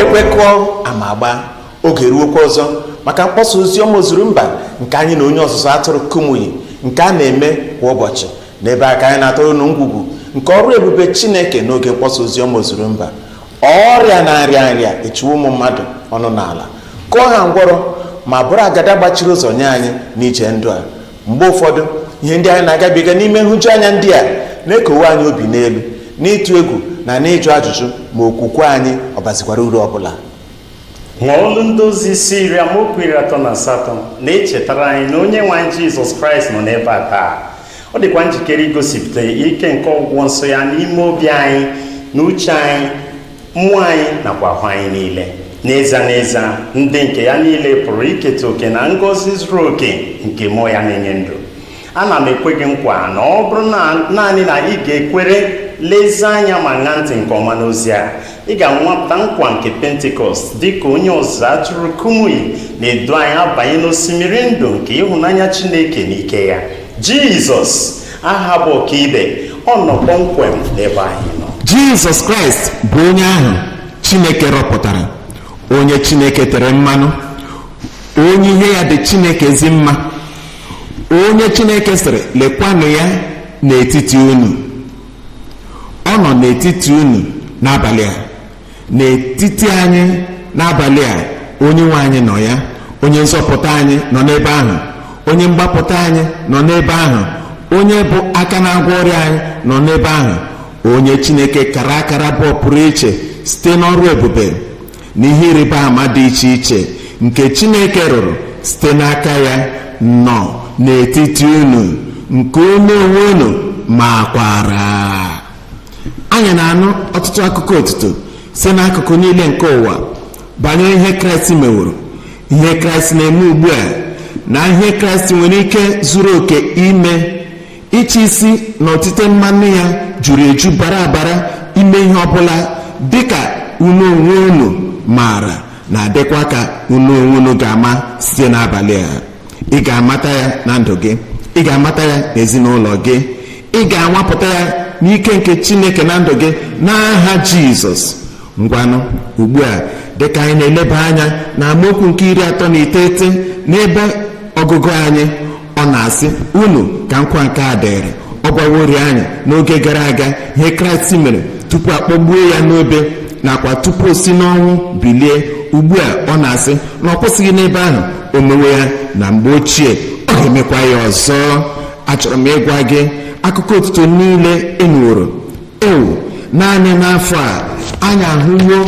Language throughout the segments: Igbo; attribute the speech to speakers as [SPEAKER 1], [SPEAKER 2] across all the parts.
[SPEAKER 1] ekwe kụọ ama agbaa oge eruokwa ọzọ maka mkpọsa ozi ọma ozuru mba nke anyị na onye ọzụzụ atụrụ kumuyi nke a na-eme kwa ụbọchị n'ebe a ka anyị na-atọrọ unu ngwugwu nke ọrụ ebube chineke n'oge mkpọsa ozi ọma ozuru mba ọrịa na nrịanrịa echiwo ụmụ mmadụ ọnụ n'ala kụọ ha ngwọrọ ma bụrụ agada gbachiri ụzọ nye anyị n'ije ndụ a mgbe ụfọdụ ihe ndị anyị na-agabiga n'ime nhụjuanya ndị a na-ekowe anyị obi n'elu n'ịtụ egwu na n'ịjụ ajụjụ ma okwukwe anyị ọ bazikwara uru ọ bụla ma
[SPEAKER 2] ọlụ ndị ozi isi iri amaokwu iri atọ na asatọ na-echetara anyị na onye nwe anyị jizọs kraịst nọ n'ebe a taa ọ dịkwa njikere igosipụta ike nke ọgwụgwọ nsọ ya n'ime obi anyị na uche anyị mmụọ anyị nakwa ahụ anyị niile n'ezie n'ezie ndị nke ya niile pụrụ iketa oke na ngọzi zuru oke nke mmụọ ya na-enye ndụ ana m ekwe gị nkwa na ọ bụrụ na naanị na ị ga-ekwere lezie anya ma ṅaa ntị nke ọma n'ozi a ị ga-anwapụta nkwa nke pentikọst dị ka onye ọzụzụ atụrụ kumuyi na-edu anyị abanye n'osimiri ndụ nke ịhụnanya chineke na ike ya jizọs aha bụ ọkaibe ọ nọ kpọmkwem n'ebe anyị nọ jizọs kraịst
[SPEAKER 1] bụ onye ahụ chineke rọpụtara onye chineke tere mmanụ onye ihe ya dị chineke ezi mma onye chineke sịrị lekwanụ ya n'etiti unu ọ nọ n'etiti unu n'abalị a n'etiti anyị n'abalị a onye nwe anyị nọ ya onye nzọpụta anyị nọ n'ebe ahụ onye mgbapụta anyị nọ n'ebe ahụ onye bụ aka na-agwọ ọrịa anyị nọ n'ebe ahụ onye chineke kara akara bụ ọpụrụ iche site n'ọrụ ebube na ihe ịrịba ama dị iche iche nke chineke rụrụ site n'aka ya nọ n'etiti unu nke unu onwe unu makwara anyị na-anụ ọtụtụ akụkọ otuto si n'akụkụ niile nke ụwa banyere ihe kraịst meworo ihe kraịst na-eme ugbu a na ihe kraịst nwere ike zuru oke ime ịchị isi na otite mmanụ ya juru eju bara abara ime ihe ọbụla dịka unu onwe unu maara na dịkwa ka unu onwe unu ga-ama site n'abalị a ị ga-amata ya na ndụ gị ị ga-amata ya n'ezinụlọ gị ị ga-anwapụta ya n'ike nke chineke na ndụ gị n'aha jizọs ngwanụ ugbu a dịka anyị na-eleba anya na amaokwu nke iri atọ na iteghete n'ebe ọgụgụ anyị ọ na-asị unu ka nkwa nke a dịrị ọ gwaworị anyị n'oge gara aga ihe kraịst mere tupu a kpọgbuo ya n'obe nakwa tupu o si n'ọnwụ bilie ugbu a ọ na-asị na ọ kwụsịghị n'ebe ahụ o mewo ya na mgbe ochie ọ ga-emekwa ya ọzọ achọrọ m ịgwa gị akụkọ otuto niile enweworo ewu naanị n'afọ a anyị ahụwo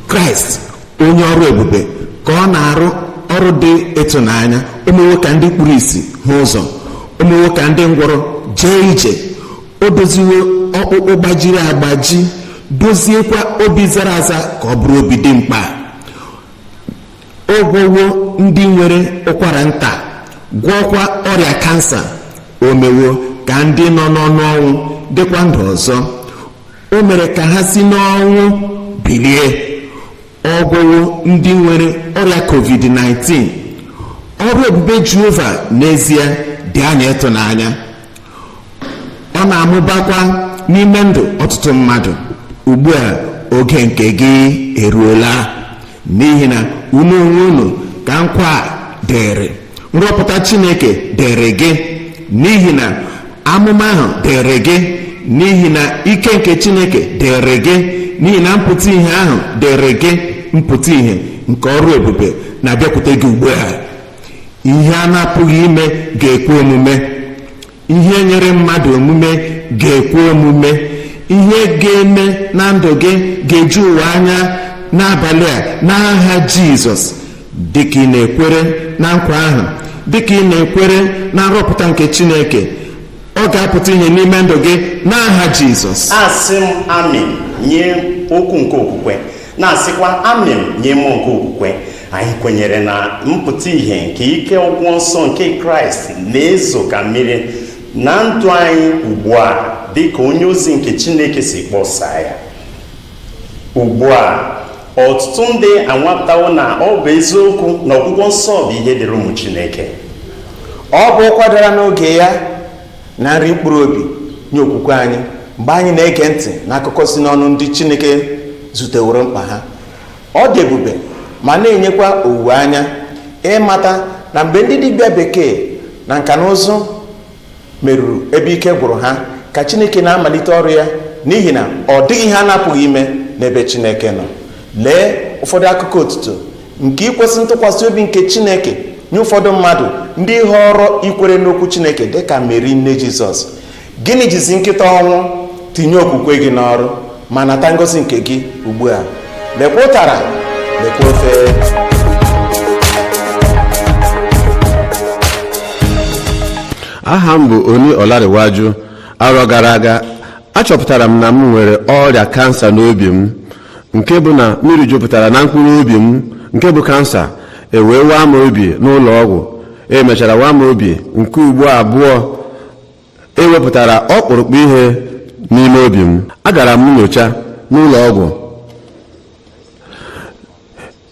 [SPEAKER 1] kraịst onye ọrụ ebube ka ọ na-arụ ọrụ dị ịtụnanya o mewo ka ndị kpuru isi hụ ụzọ o mewo ka ndị ngwọrọ jee ije o doziwo ọkpụkpụ gbajiri agbaji doziekwa obi zara aza ka ọ bụrụ obi dị mkpa ọ gwọwo ndị nwere ụkwara nta gwọọkwa ọrịa kansa o mewo ka ndị nọ n'ọnụ ọnwụ dịkwa ndụ ọzọ o mere ka ha si n'ọnwụ bilie ọ gwọwo ndị nwere ọrịa covid-19 ọrụ ebube jehova n'ezie dị anya ịtụnanya ọ na-amụbakwa n'ime ndụ ọtụtụ mmadụ ugbu a oge nke gị eruola n'ihi na unu onwe unu ka nkwa a dịrị nrọpụta chineke dịrị gị n'ihi na amụma ahụ dịrị gị n'ihi na ike nke chineke dịrị gị n'ihi na mpụta ihe ahụ dịrị gị mpụta ihe nke ọrụ ebube na-abịakwute gị ugbu a ihe a na-apụghị ime ga-ekwe omume ihe nyịrị mmadụ omume ga-ekwe omume ihe ga-eme na ndụ gị ga-eju ụwa anya n'abalị a n'aha jizọs dịka ị na-ekwere na nkwa ahụ dịka ị na-ekwere na nrọpụta nke chineke ọ ga-apụta ihe n'ime ndụ gị n'aha jizọs asị m
[SPEAKER 2] amịn nye okwu nke okwukwe na-asịkwa amịn nye mmụọ nke okwukwe anyị kwenyere na mpụta ihe nke ike ọgwụgwọ nsọ nke kraịst na-ezo ka mmiri na ndụ anyị ugbu a dị ka onye ozi nke chineke si kpọsaa ya ugbu a ọtụtụ ndị anwapụtawo na ọ bụ eziokwu na ọgwụgwọ nsọ bụ ihe dịrị ụmụ chineke
[SPEAKER 1] ọ bụ ụkwa dara n'oge ya na nri mkpụrụ obi nye okwukwe anyị mgbe anyị na-ege ntị n'akụkọ si n'ọnụ ndị chineke zuteworo mkpa ha Ọ dị ebube ma na-enyekwa owuwe anya ịmata na mgbe ndị dibịa bekee na nka na ụzụ meruru ebe ike gwụrụ ha ka Chineke na-amalite ọrụ ya n'ihi na ọ dịghị ihe a na-apụghị ime n'ebe Chineke nọ. Lee ụfọdụ akụkọ otuto nke ikwesị ntụkwasị obi nke Chineke nye ụfọdụ mmadụ ndị họọrọ ikwere n'okwu Chineke dị ka Meri nne Jizọs. Gịnị jizi nkịta ọnwụ tinye okwukwe gị n'ọrụ ma nata ngọzi nke gị ugbu a lekwa ụtara lekwa
[SPEAKER 3] ofe aha m bụ Oni Ọlarewaju arọ gara aga achọpụtara m na m nwere ọrịa kansa n'obi m nke bụ na mmiri jupụtara na mkpụrụ obi m nke bụ kansa ewee waa m obi n'ụlọ ọgwụ emechara waa m obi nke ugbo abụọ ewepụtara ọkpụrụkpụ ihe n'ime obi m agara m nyocha n'ụlọ ọgwụ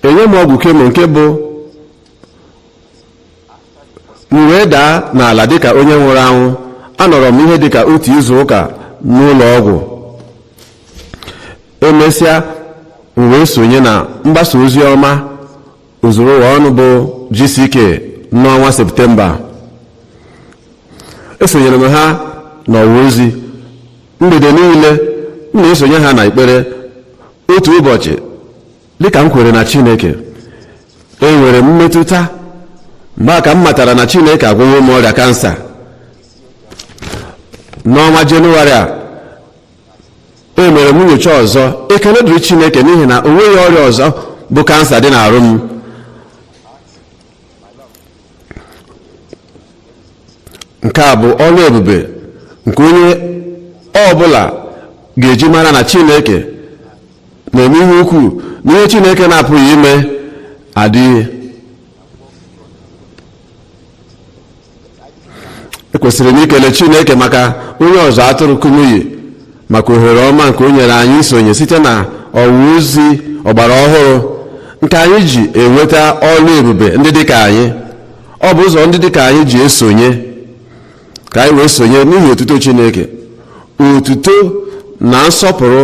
[SPEAKER 3] enye m ọgwụ kemo nke bụ m wee daa n'ala dịka onye nwụrụ anwụ anọrọ m ihe dịka otu izu ụka n'ụlọ ọgwụ emesịa m wee sonye na mgbasa ozi ọma zuru ụwa ọnụ bụ GCK n'ọnwa septemba esonyere m ha n'ọwa ozi mgbede niile m na-esonye ha na ekpere otu ụbọchị dịka m kwere na chineke enwere m mmetụta mgbe a ka m matara na chineke agwọwo m ọrịa kansa n'ọnwa jenụwarị a e mere m nyocha ọzọ ekele dịrị chineke n'ihi na o nweghị ọrịa ọzọ bụ kansa dị n'arụ m nke a bụ ọrụ ebube nke onye ọ bụla ga-eji mara na chineke na-eme ihe ukwuu na ihe chineke na-apụghị ime adịghị ekwesịrị m ikele chineke maka onye ọzụ atụrụ kumuyi maka ohere ọma nke o nyere anyị isonye site na ọwa ozi ọgbara ọhụrụ nke anyị ji enweta ọrụ ebube ndị dịka anyị ọ bụ ụzọ ndị dịka anyị ji esonye ka anyị wee sonye n'ihi otuto chineke otuto na nsọpụrụ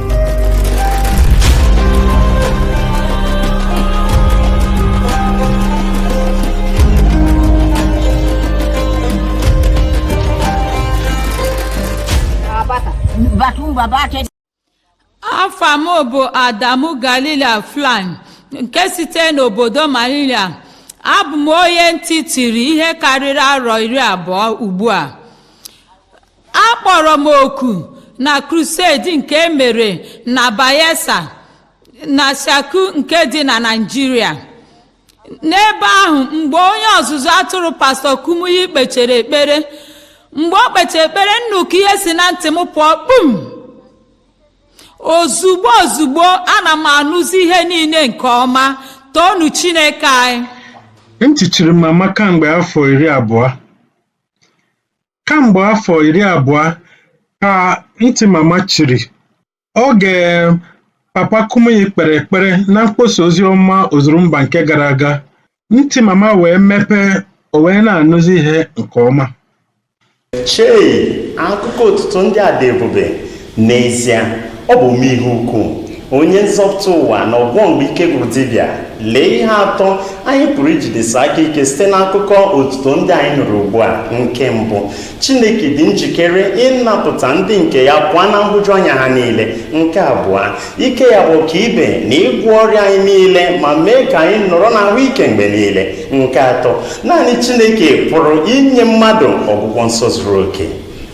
[SPEAKER 4] afa m bụ adamu galila flan nke site n'obodo malila abụ m onye ntị chiri ihe karịrị arọ iri abụọ ugbu a akpọrọ m oku na crusade nke e mere na bayelsa na shaku nke dị na naijiria n'ebe ahụ mgbe onye ọzụzụ atụrụ pastọ kumuyi kpechere ekpere mgbe o kpechere ekpere nnukwu ihe si na ntị m pụọ kpum ozugbo ozugbo ana m anụzi ihe niile nke ọma toonụ chineke anyị ntị chiri
[SPEAKER 5] m amaka mgbe afọ iri abụọ kamgbe afọ iri abụọ ka ntị mama chiri oge papa Kumuyi kpere ekpere na mkpọsa ozi ọma ozurumba nke gara aga ntị mama wee mepee o wee na-anụzi ihe nke ọma Chei!
[SPEAKER 2] Akụkọ otuto ndị a dị ebube! N'ezie, ọ bụ ome ihe ukwuu, onye nzọpụta ụwa na ọgwọ mgbe ike gwụrụ dibịa. Lee ihe atọ anyị pụrụ ijidesi aka ike site n'akụkọ otuto ndị anyị nụrụ ugbu a. Nke mbụ, Chineke dị njikere ịnapụta ndị nke ya pụọ na nhụjuanya ha niile. Nke abụọ, ike ya bụ ọkaibe na ịgwọ ọrịa anyị niile ma mee ka anyị nọrọ n'ahụ ike mgbe niile. Nke atọ, naanị Chineke pụrụ inye mmadụ ọgwụgwọ nsọ zuru oke.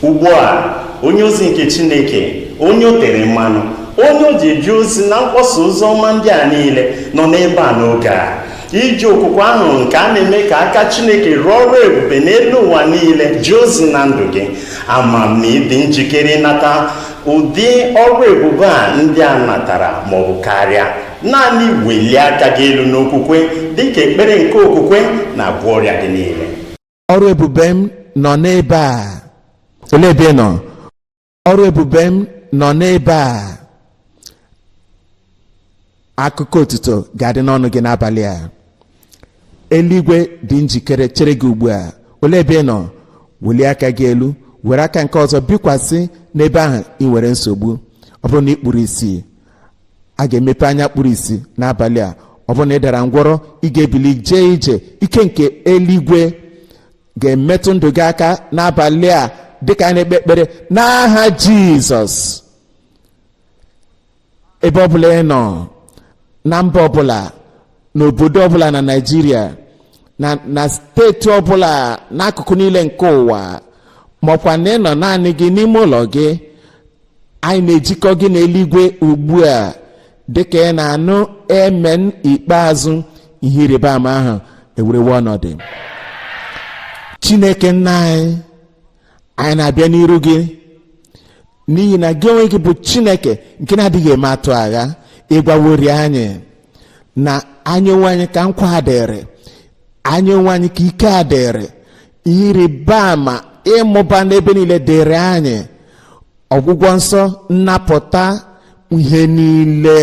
[SPEAKER 2] ugbu a onye ozi nke chineke onye o tere mmanụ onye o ji eje ozi na mkpọsa ozi ọma ndị a niile nọ n'ebe a n'oge a iji okwukwe ahụ nke a na-eme ka aka chineke rụọ ọrụ ebube n'elu ụwa niile jee ozi na ndụ gị ama m na ị dị njikere ịnata ụdị ọrụ ebube a ndị a natara maọbụ karịa naanị welie aka gị elu n'okwukwe dịka ekpere nke okwukwe na-agwọ ọrịa gị niile
[SPEAKER 1] ọrụ ebube m nọ n'ebe a olee ebe ị nọ ọrụ ebube m nọ n'ebe a akụkọ otuto ga-adị n'ọnụ gị n'abalị a eluigwe dị njikere chere gị ugbu a olee ebe ị nọ welie aka gị elu were aka nke ọzọ bikwasị n'ebe ahụ i nwere nsogbu ọ bụrụ na i kpuru isi a ga-emepe anya kpuru isi n'abalị a ọ bụrụ na ị dara ngwọrọ ị ga-ebili jee ije ike nke eluigwe ga-emetụ ndụ gị aka n'abalị a dịka anyị na-ekpe ekpere n'aha jizọs ebe ọbụla ị nọ na mba ọbụla n'obodo ọbụla na naịjirịa na na steeti ọbụla n'akụkụ niile nke ụwa maọkwa na ị nọ naanị gị n'ime ụlọ gị anyị na-ejikọ gị n'eluigwe ugbu a dịka ị na-anụ emen ikpeazụ ihe ịrịba ama ahụ ewerewe ọnọdụ chineke nna anyị anyị na-abịa n'iru gị n'ihi na gị onwe gị bụ chineke nke na-adịghị eme atụ agha ị gwaworị anyị na anyị onwe anyị ka nkwa a dịrị anyị onwe anyị ka ike a dịrị ihe ịrịba ama ịmụba n'ebe niile dịrị anyị ọgwụgwọ nsọ nnapụta ihe niile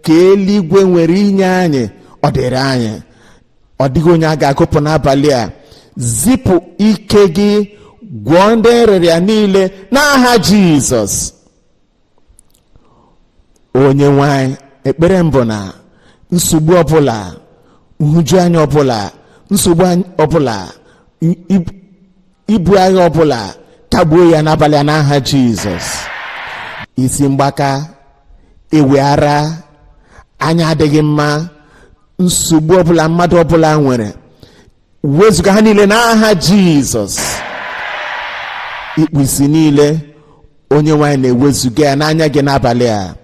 [SPEAKER 1] ka eluigwe nwere inye anyị ọ dịrị anyị ọ dịghị onye a ga-agụpụ n'abalị a zipụ ike gị gwọọ ndị nrịrịa niile n'aha jizọs onye nwe anyị ekpere m bụ na nsogbu ọbụla nhụjuanya ọbụla nsogbu anyị- ọbụla i- i- ibu agha ọbụla kagbuo ya n'abalị a n'aha jizọs isi mgbaka ịwị ara anya adịghị mma nsogbu ọbụla mmadụ ọbụla nwere wezụga ha niile n'aha jizọs ikpu isi niile onye nwe anyị na-ewezụga ya n'anya gị n'abalị a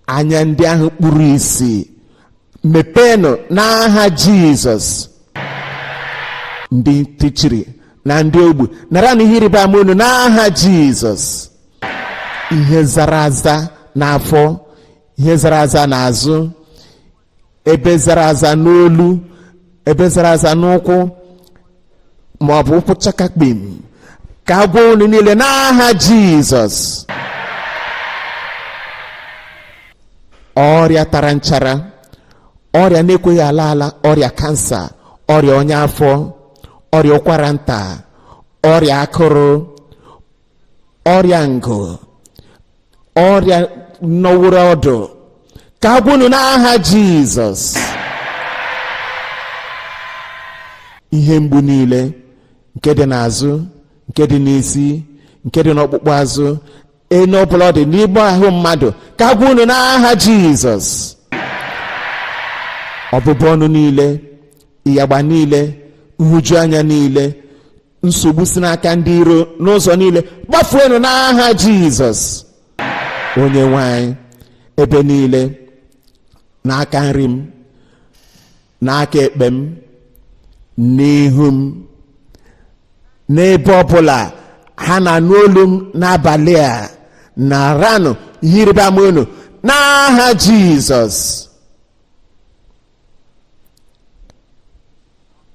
[SPEAKER 1] anya ndị ahụ kpuru isi mepeenụ n'aha jizọs ndị ntị chiri na ndị ogbu naranụ ihe ịrịba ama unu n'aha jizọs ihe zara aza n'afọ ihe zara aza n'azụ ebe zara aza n'olu ebe zara aza n'ụkwụ ma ọ bụ ụkwụ chakakpim ka a gwọọ unu niile n'aha jizọs ọrịa tara nchara ọrịa na-ekweghị ala ala ọrịa kansa ọrịa ọnya afọ ọrịa ụkwara nta ọrịa akụrụ ọrịa ngụ ọrịa nọworo ọdụ ka a gwọọ unu n'aha jizọs ihe mgbu niile nke dị n'azụ nke dị n'isi nke dị n'ọkpụkpụ azụ ebe ọbụla ọ dị n'ime ahụ mmadụ ka a gwọọ unu n'aha jizọs ọbụbụ ọnụ niile ịyagba niile nhụjuanya niile nsogbu si n'aka ndị iro n'ụzọ niile gbafuenụ n'aha jizọs onye nwe anyị ebe niile n'aka nri m n'aka ekpe m n'ihu m n'ebe ọbụla ha na-anụ olu m n'abalị a naranụ ihe ịrịba ama unu n'aha jizọs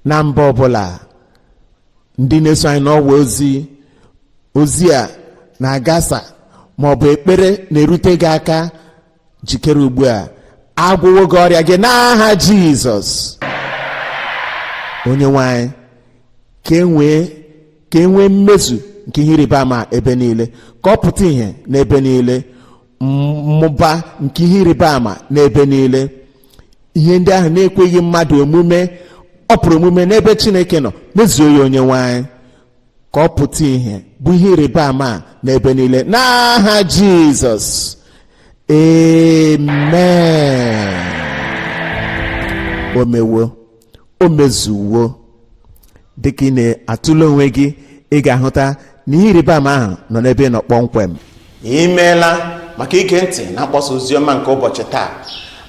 [SPEAKER 1] na mba ọbụla ndị na-eso anyị n'ọwa ozi ozi a na-agasa ma ọ bụ ekpere na-erute gị aka jikere ugbu a a gwọwo gị ọrịa gị n'aha jizọs onye nwe anyị ka e nwee ka e nwee mmezu nke ihe ịrịba ama ebe niile ka ọ pụta ìhè n'ebe niile mmụba nke ihe ịrịba ama n'ebe niile ihe ndị ahụ na-ekweghị mmadụ omume ọ pụrụ omume n'ebe chineke nọ mezuo ya onye nwe anyị ka ọ pụta ìhè bụ ihe ịrịba ama n'ebe niile n'aha jizọs amen o mewo o mezuwo dịka ị na-atụle onwe gị ị ga-ahụta na ihe ịrịba ama ahụ nọ n'ebe ị nọ kpọmkwem i
[SPEAKER 6] meela maka ige ntị na mkpọsa oziọma nke ụbọchị taa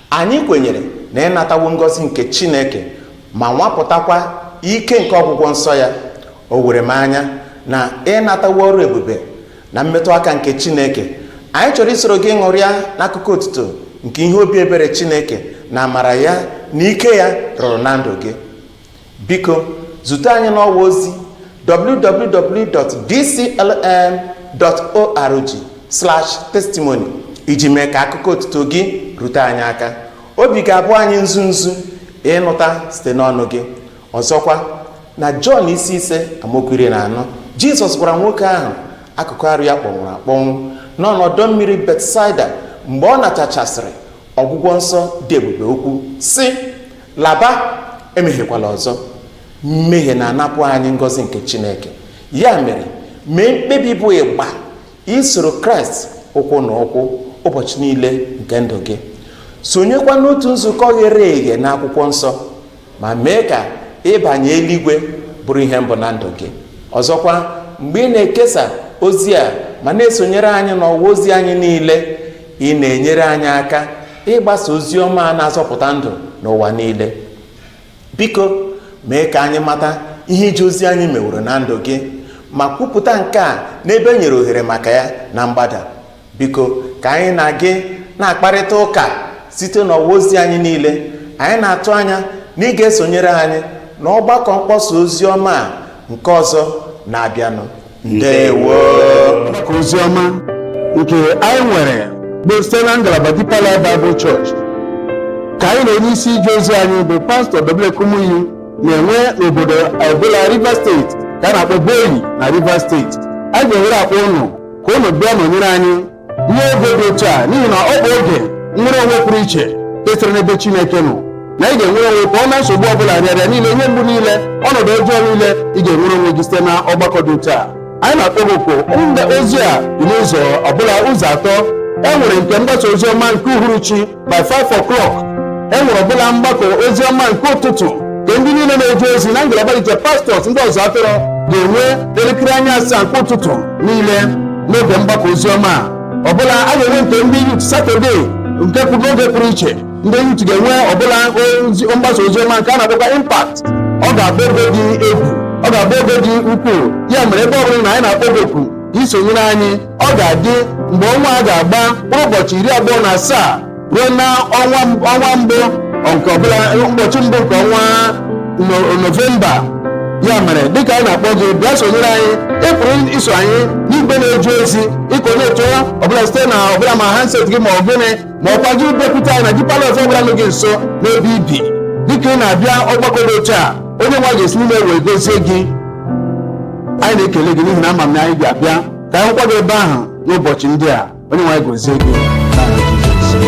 [SPEAKER 6] anyị kwenyere na ị natawo ngọzi nke chineke ma nwapụtakwa ike nke ọgwụgwọ nsọ ya o were m anya na ị natawo ọrụ ebube na mmetụ aka nke chineke anyị chọrọ isoro gị ṅụrịa n'akụkọ otuto nke ihe obi ebere chineke na amara ya na ike ya rụrụ na ndụ gị biko zute anyị n'ọwa ozi www.dclm.org testimony iji mee ka akụkọ otuto gị rute anyị aka obi ga-abụ anyị nzu nzu ịnụta site n'ọnụ gị ọzọkwa na jọn isi ise amaokwu iri na anọ jizọs gwara nwoke ahụ akụkụ arụ ya kpọnwụrụ akpọnwụ nọ n'ọdọ mmiri betsaida mgbe ọ natachasịrị ọgwụgwọ nsọ dị ebube okwu sị laba emehiekwala ọzọ mmehie na-anapụ anyị ngọzi nke chineke ya mere mee mkpebi bụ ịgba isoro kraịst ụkwụ na ụkwụ ụbọchị niile nke ndụ gị sonyekwa n'otu nzukọ ghere eghe n'akwụkwọ nsọ ma mee ka ịbanye eluigwe bụrụ ihe mbụ na ndụ gị ọzọkwa mgbe ị na-ekesa ozi a ma na-esonyere anyị n'ọwa ozi anyị niile ị na-enyere anyị aka ịgbasa ozi ọma a na-azọpụta ndụ n'ụwa niile biko mee ka anyị mata ihe ije ozi anyị meworo na ndụ gị ma kwupụta nke a n'ebe e nyere ohere maka ya na mgbada biko ka anyị na gị na-akparịta ụka site n'ọwa ozi anyị niile anyị na-atụ anya na ị ga-esonyere anyị na ọgbakọ mkpọsa ozi ọma a nke ọzọ na-abịanụ ndewo mgbakọ
[SPEAKER 3] ozi ọma nke anyị nwere bụ site na ngalaba Deeper Life Bible Church ka anyị na onye isi ije ozi anyị bụ pastọ W.F. Kumuyi na-enwe n'obodo ọbụla Rivers Steeti ka a na-akpọ Bori na Rivers Steeti anyị ga-ewere akpọ ụnụ ka unu bịa nọnyere anyị n'oge dị otu a n'ihi na ọ bụ oge nnwere onwe pụrụ iche nke siri n'ebe Chineke nọ na ị ga-enwere onwe pụọ na nsogbu ọbụla nrịanrịa niile ihe mgbu niile ọnọdụ ọjọọ niile ị ga-enwere onwe gị site na ọgbakọ dị otu a anyị na-akpọ gị oku mgbasa ozi a dị n'ụzọ ọbụla ụzọ atọ e nwere nke mgbasa ozi ọma nke uhuruchi by 5 o'clock e nwere ọbụla mgbakọ ozi ọma nke ụtụtụ nke ndị niile na-eje ozi na ngalaba dị iche pastọs ndị ọzụ atụrụ ga-enwe elekere anya asaa nke ụtụtụ niile n'oge mgbakọ ozi ọma a. ọbụla a ga-enwe nke ndị yut satọde nke pụrụ n'oge pụrụ iche ndị yut ga-enwe ọbụla mgbasa ozi ọma nke a na-akpọkwa impact ọ ga-abụ oge dị egwu ọ ga-abụ oge dị ukwuu ya mere ebe ọ bụla ị nọ anyị na-akpọ gị oku ka i sonyere anyị ọ ga-adị mgbe ọnwa a ga-agba mkpụrụ ụbọchị iri abụọ na asaa ruo na ọnwa mbụ nke ọbụla ụbọchị mbụ nke ọnwa No- novemba ya mere dịka anyị na-akpọ gị bịa sonyere anyị ị pụrụ iso anyị n'igwe na-eje ozi ịkọnetụ ọbụla site na ọbụla ma handset gị ma ọ gịnị ma ọkwa gị bịakwute anyị na Deeper Life ọbụla nọ gị nso n'ebe i bi dịka ị na-abịa ọgbakọ dị otu a onye nwe anyị ga-esi n'ime wee gozie gị anyị na-ekele gị n'ihi na ama m na anyị ga-abịa ka anyị hụkwa gị ebe ahụ n'ụbọchị ndị a onye nwe anyị gozie gị n'aha Jizọs